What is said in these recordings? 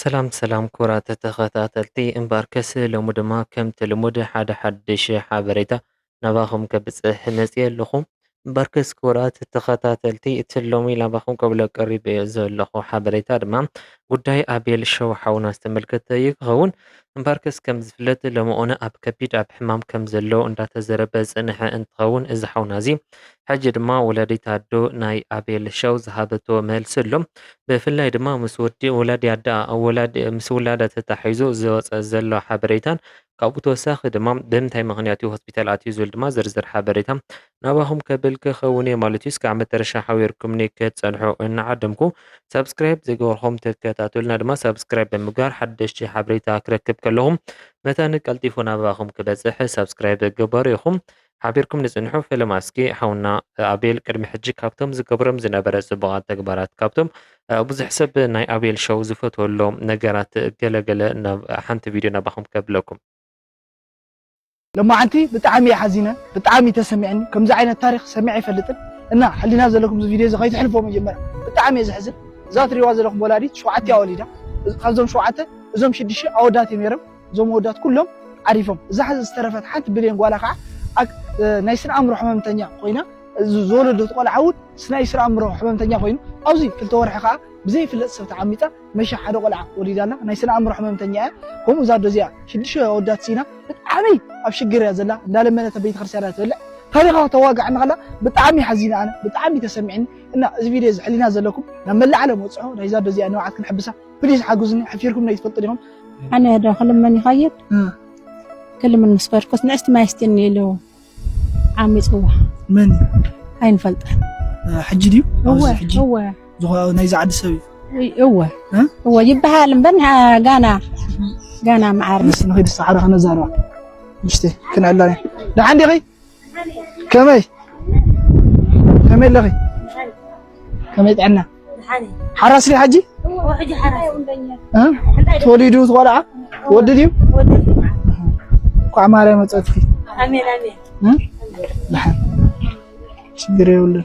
ሰላም ሰላም ክቡራት ተኸታተልቲ እምባር ከስ ሎሚ ድማ ከምቲ ልሙድ ሓደ ሓድሽ ሓበሬታ ናባኹም ከብጽሕ መጽየ ኣለኹ። እምባር ከስ ክቡራት ተኸታተልቲ እቲ ሎሚ ናባኹም ከብሎ ቀሪበ ዘለኹ ሓበሬታ ድማ ጉዳይ ኣቤል ሸው ሓውና ዝተመልከተ እዩ ክኸውን። እምባር ከስ ከም ዝፍለጥ ሎሚ እዋን ኣብ ከቢድ ኣብ ሕማም ከም ዘሎ እንዳተዘረበ ዝጸንሐ እንትኸውን እዚ ሓውና እዚ ሕጂ ድማ ወላዲት ኣዶ ናይ ኣቤል ሸው ዝሃበቶ መልሲ ኣሎ። ብፍላይ ድማ ምስ ወዲ ወላዲ ኣደኣ ምስ ውላዳ ተታሒዙ ዝወጸ ዘሎ ሓበሬታን ካብኡ ተወሳኺ ድማ ብምንታይ ምኽንያት እዩ ሆስፒታል ኣትዩ ዝብል ድማ ዝርዝር ሓበሬታ ናባኹም ከብል ክኸውን እየ ማለት እዩ። እስካብ መጨረሻ ሓቢርኩምኒ ክትጸንሑ እናዓደምኩ ሳብስክራይብ ዘይገበርኩም ተከታተሉና ድማ ሳብስክራይብ ብምግባር ሓደሽቲ ሓበሬታ ክረክብ ከለኹም መታን ቀልጢፉ ናባኹም ክበጽሕ ሳብስክራይብ ግበሩ ኢኹም። ሓቢርኩም ንጽንሑ ፍልም ኣስኪ ሓውና ኣቤል ቅድሚ ሕጂ ካብቶም ዝገብሮም ዝነበረ ጽቡቃት ተግባራት ካብቶም ብዙሕ ሰብ ናይ ኣቤል ሸው ዝፈትወሎም ነገራት ገለ ገለ ናብ ሓንቲ ቪድዮ ናባኹም ከብለኩም ለማዓንቲ ብጣዓሚ እየ ሓዚነ ብጣዓሚ እዩ ተሰሚዕኒ ከምዚ ዓይነት ታሪክ ሰሚዐ ኣይፈልጥን እና ሕሊና ዘለኩም እዚ ቪድዮ እዚ ከይትሕልፍዎ መጀመርያ ብጣዓሚ እየ ዘሕዝን እዛ ትሪእዋ ዘለኩም ወላዲት ሸውዓቲኣ ወሊዳ ካብዞም ሸውዓተ እዞም ሽድሽተ ኣወዳት እዮም ነይሮም እዞም ኣወዳት ኩሎም ዓሪፎም እዛ ሕዚ ዝተረፈት ሓንቲ ብሌን ጓላ ከዓ ናይ ስነ ኣእምሮ ሕመምተኛ ኮይና ዝወለደት ቆልዓ እውን ናይ ስነ ኣእምሮ ሕመምተኛ ኮይኑ ኣብዚ ክልተ ወርሒ ከዓ ብዘይፍለጥ ሰብ ተዓሚፃ መሻ ሓደ ቆልዓ ወሊዳ ኣላ ናይ ስነ ኣእምሮ ሕመምተኛ እያ ከምኡ እዛ ኣዶ እዚኣ ሽዱሽተ ኣወዳት ሲና ብጣዕሚ ኣብ ሽግር እያ ዘላ እንዳለመነት ኣብ ቤተክርስትያን እያ ትበልዕ ታሪኻ ተዋጋዕ ንኸላ ብጣዕሚ ሓዚነ ኣነ ብጣዕሚ ተሰሚዕኒ እና እዚ ቪድዮ እዚ ሕሊና ዘለኩም ናብ መላእ ዓለም ወፅዖ ናይዛ ኣዶ እዚኣ ንብዓት ክንሕብሳ ፕሊስ ሓግዙኒ ሓፊርኩም ናይ ትፈልጡ ዲኹም ኣነ ዶ ክልምን ይኸይድ ክልምን ምስ ከድኩስ ንእስቲ ማይ ስቲኒ ኢሉ ዓሚፅዋ መን ኣይንፈልጠን ሕጂ ድዩ ሕጂ ናይዚ ዓዲ ሰብ እዩ እወ እወ ይበሃል እምበር ጋና ጋና መዓር ንስ ንኸይድ ሰዓዳ ከነዛረባ ምሽተ ክንዕላ ደሓን ዲኺ ከመይ ከመይ ኣለኺ ከመይ ጥዕና ሓራስ ድዩ ሓጂ ተወሊዱ ትቆልዓ ወዲ ድዩ ቋዕ ማርያም መፀትኪ ችግር የብሉን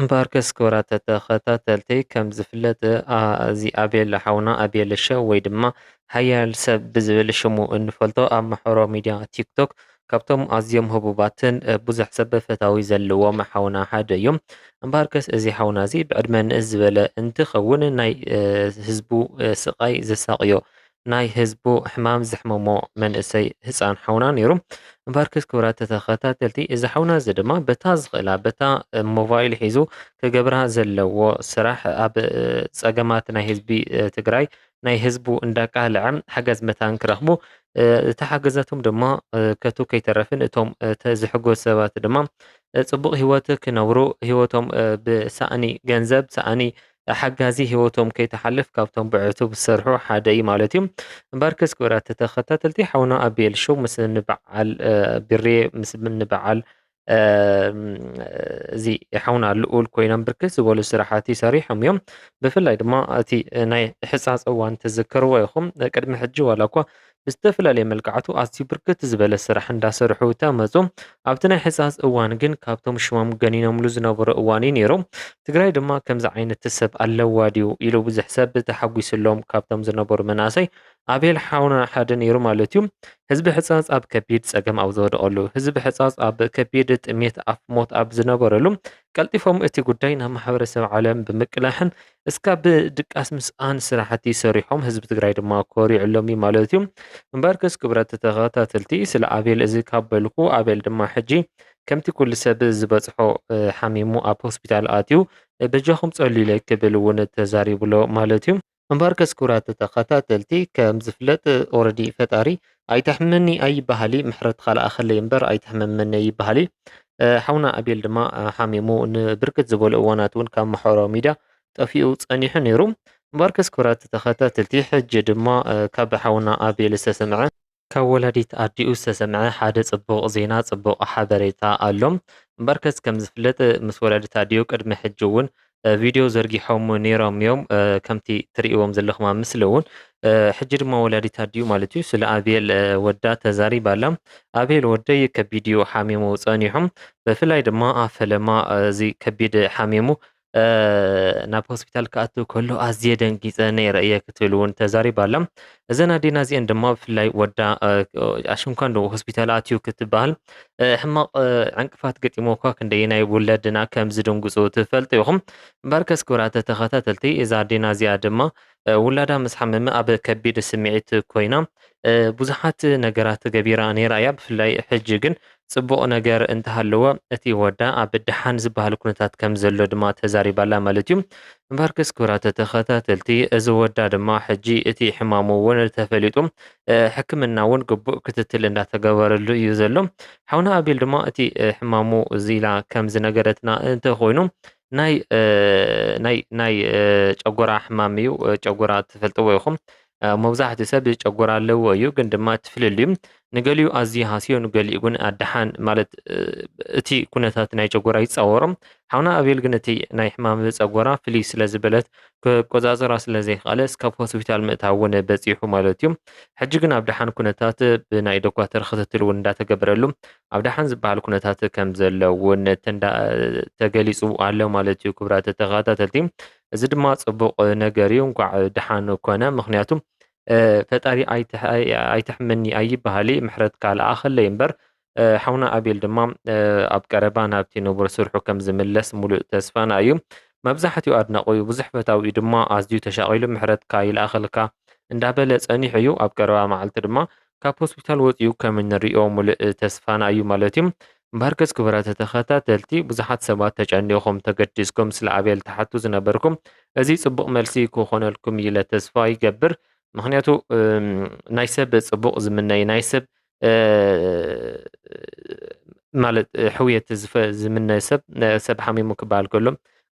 እምበኣርከስ ክቡራት ተኸታተልቲ ከም ዝፍለጥ ኣዚ ኣቤል ሓውና ኣቤል ሸው ወይ ድማ ሓያል ሰብ ብዝብል ሽሙ እንፈልጦ ኣብ ማሕበራዊ ሚድያ ቲክቶክ ካብቶም ኣዝዮም ህቡባትን ብዙሕ ሰብ ፈታዊ ዘለዎም ሓውና ሓደ እዩ። እምበኣርከስ እዚ ሓውና እዚ ብዕድመ ንእስ ዝበለ እንትኸውን ናይ ህዝቡ ስቓይ ዘሳቕዮ ናይ ህዝቡ ሕማም ዘሕመሞ መንእሰይ ህጻን ሓውና ነይሩ። እምበኣርክስ ክብራት ተኸታተልቲ እዚ ሓውና እዚ ድማ በታ ዝኽእላ በታ ሞባይል ሒዙ ክገብራ ዘለዎ ስራሕ ኣብ ጸገማት ናይ ህዝቢ ትግራይ ናይ ህዝቡ እንዳቃልዐ ሓገዝ መታን ክረኽቡ እቲ ሓገዛቶም ድማ ከቱ ከይተረፍን እቶም ዝሕጎዝ ሰባት ድማ ጽቡቕ ሂወት ክነብሩ ሂወቶም ብሳእኒ ገንዘብ ሳእኒ ሓጋዚ ሂወቶም ከይትሓልፍ ካብቶም ብዕቱብ ዝሰርሑ ሓደ እዩ ማለት እዩ እምበርከስ ክብራት ተኸታተልቲ ሓውና ኣቤል ሾው ምስ ንበዓል ብሬ ምስ ንበዓል እዚ ሓውና ልኡል ኮይኖም ብርክት ዝበሉ ስራሓት ይሰሪሖም እዮም ብፍላይ ድማ እቲ ናይ ሕፃፅ እዋን ትዝክርዎ ኢኹም ቅድሚ ሕጂ ዋላ እኳ ብዝተፈላለየ መልክዓቱ ኣዝዩ ብርክት ዝበለ ስራሕ እንዳሰርሑ ተመፁ። ኣብቲ ናይ ሕፃፅ እዋን ግን ካብቶም ሽሞም ገኒኖምሉ ዝነበሩ እዋን እዩ ነይሩ። ትግራይ ድማ ከምዚ ዓይነት ሰብ ኣለዋ ድዩ ኢሉ ብዙሕ ሰብ ተሓጒስሎም ካብቶም ዝነበሩ መናእሰይ ኣቤል ሓውና ሓደ ነይሩ ማለት እዩ። ህዝቢ ሕፃፅ ኣብ ከቢድ ፀገም ኣብ ዝወደቐሉ፣ ህዝቢ ሕፃፅ ኣብ ከቢድ ጥሜት ኣፍ ሞት ኣብ ዝነበረሉ ቀልጢፎም እቲ ጉዳይ ናብ ማሕበረሰብ ዓለም ብምቅላሕን እስካ ብ ድቃስ ምስኣን ስራሕቲ ሰሪሖም ህዝቢ ትግራይ ድማ ኮሪዕሎም እዩ ማለት እዩ እምበርከስ ክብረት ተከታተልቲ ስለ ኣቤል እዚ ካብ በልኩ ኣቤል ድማ ሕጂ ከምቲ ኩሉ ሰብ ዝበጽሖ ሓሚሙ ኣብ ሆስፒታል ኣትዩ በጃኩም ጸልዩለይ ክብል እውን ተዛሪቡሎ ማለት እዩ እምበርከስ ክብራት ተከታተልቲ ከም ዝፍለጥ ኦረዲ ፈጣሪ ኣይተሕምመኒ ኣይበሃሊ ምሕረትኻ ልኣኸለይ እምበር ኣይተሕምመኒ ኣይበሃሊ። ሓውና ኣቤል ድማ ሓሚሙ ንብርክት ዝበሉ እዋናት እውን ካብ ማሕበራዊ ሚድያ ጠፊኡ ጸኒሑ ነይሩ። እምበኣርከስ ክብራት ተኸታተልቲ ሕጂ ድማ ካብ ሓውና ኣቤል ዝተሰምዐ ካብ ወላዲት ኣዲኡ ዝተሰምዐ ሓደ ጽቡቕ ዜና ጽቡቕ ሓበሬታ ኣሎ። እምበኣርከስ ከም ዝፍለጥ ምስ ወላዲት ኣዲኡ ቅድሚ ሕጂ እውን ቪድዮ ዘርጊሖም ነይሮም እዮም ከምቲ ትርእዎም ዘለኹም ኣብ ምስሊ እውን ሕጂ ድማ ወላዲት ኣዲኡ ማለት እዩ ስለ ኣብየል ወዳ ተዛሪባ ኣላ ኣብየል ወደይ ከቢድ እዩ ሓሚሙ ጸኒሑ ብፍላይ ድማ ኣብ ፈለማ እዚ ከቢድ ሓሚሙ ናብ ሆስፒታል ክኣትው ከሎ ኣዝየ ደንጊፀ ነይረ እየ ክትብል እውን ተዛሪባ ኣላ እዘን ኣዴና እዚኤን ድማ ብፍላይ ወዳ ኣሽንኳን ዶ ሆስፒታል ኣትዩ ክትበሃል ሕማቕ ዕንቅፋት ገጢሞ እኳ ክንደየናይ ውለድና ከም ዝድንግፁ ትፈልጡ ይኹም እምበርከስ ክብራተ ተኸታተልቲ እዛ ኣዴና እዚኣ ድማ ውላዳ ምስ ሓመመ ኣብ ከቢድ ስምዒት ኮይና ብዙሓት ነገራት ገቢራ ነይራ እያ ብፍላይ ሕጂ ግን ጽቡቕ ነገር እንተሃለወ እቲ ወዳ ኣብ ደሓን ዝበሃል ኩነታት ከምዘሎ ድማ ተዛሪባ'ላ ማለት'ዩ። እምበኣርከስ ክብራት ተኸታተልቲ እዚ ወዳ ድማ ሕጂ እቲ ሕማሙ'ውን ተፈሊጡ ሕክምና'ውን ግቡእ ክትትል እንዳተገበረሉ እዩ ዘሎ። ሓውና ኣቤል ድማ እቲ ሕማሙ እዚ ኢላ ከምዝነገረትና እንተኾይኑ ናይ ናይ ናይ ጨጎራ ሕማም እዩ ጨጎራ ትፈልጥዎ ኢኹም መብዛሕትኡ ሰብ ጨጎራ ኣለዎ እዩ፣ ግን ድማ እቲ ፍልልዩ ንገሊኡ ኣዝዩ ሃስዮ ንገሊኡ ግን ኣደሓን ማለት እቲ ኩነታት ናይ ጨጎራ ይጻወሮ። ሓውና ኣቤል ግን እቲ ናይ ሕማም ጸጎራ ፍልይ ስለ ዝበለት ክቆጻጸራ ስለ ዘይክኣለ እስካብ ሆስፒታል ምእታው እውን በጺሑ ማለት እዩ። ሕጂ ግን ኣብ ደሓን ኩነታት ብናይ ዶኳተር ክትትል እውን እንዳተገበረሉ ኣብ ደሓን ዝበሃል ኩነታት ከም ዘሎ እውን ተገሊጹ ኣሎ ማለት እዩ ክብራት ተኸታተልቲ። እዚ ድማ ጽቡቕ ነገር እዩ እንኳዕ ደሓን ኮነ ምክንያቱም ፈጣሪ ኣይትሕመኒ ኣይበሃሊ ምሕረትካ ለኣኸለይ እምበር ሓውና ኣቤል ድማ ኣብ ቀረባ ናብቲ ንቡር ስርሑ ከም ዝምለስ ሙሉእ ተስፋና እዩ መብዛሕትኡ ኣድናቑ እዩ ብዙሕ ፈታዊ እዩ ድማ ኣዝዩ ተሻቒሉ ምሕረትካ ይልኣኸልካ እንዳበለ ጸኒሑ እዩ ኣብ ቀረባ መዓልቲ ድማ ካብ ሆስፒታል ወፂኡ ከም እንሪኦ ሙሉእ ተስፋና እዩ ማለት እዩ እምበኣርከስ ክቡራት ተኸታተልቲ ብዙሓት ሰባት ተጨኒኹም ተገዲስኩም ስለ ኣቤል ትሓቱ ዝነበርኩም እዚ ጽቡቕ መልሲ ክኾነልኩም እዩ ኢለ ተስፋ ይገብር ምክንያቱ ናይ ሰብ ጽቡቕ ዝምነይ ናይ ሰብ ማለት ሕውየት ዝምነ ሰብ ሰብ ሓሚሙ ክበሃል ከሎ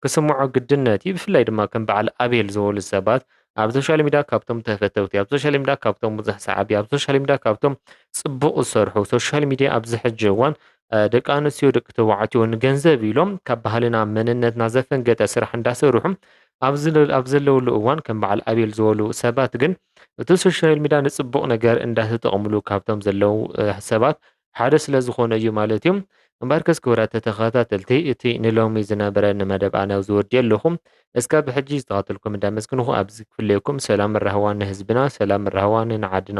ክስምዖ ግድነት እዩ ብፍላይ ድማ ከም በዓል ኣቤል ዝበሉ ሰባት ኣብ ሶሻል ሚድያ ካብቶም ተፈተውቲ ኣብ ሶሻል ሚድያ ካብቶም ብዙሕ ሰዓቢ ኣብ ሶሻል ሚድያ ካብቶም ጽቡቕ ዝሰርሑ ሶሻል ሚድያ ኣብዚ ሕጂ እዋን ደቂ ኣንስትዮ ደቂ ተባዕትዮ ንገንዘብ ኢሎም ካብ ባህልና መንነትና ዘፈንገጠ ስራሕ እንዳሰርሑ ኣብ ዘለውሉ እዋን ከም በዓል ኣቤል ዝበሉ ሰባት ግን እቲ ሶሻል ሚድያ ንፅቡቕ ነገር እንዳተጠቕምሉ ካብቶም ዘለው ሰባት ሓደ ስለ ዝኾነ እዩ ማለት እዩ። እምበርከስ ክብራት ተኸታተልቲ እቲ ንሎሚ ዝነበረኒ መደብ ኣነ ኣብዚ ወዲኤ ኣለኹ። እስካብ ሕጂ ዝተኸታተልኩም እንዳመስገንኹ ኣብዚ ክፍለየኩም ሰላምን ራህዋን ንህዝብና ሰላምን ራህዋን ንዓድና።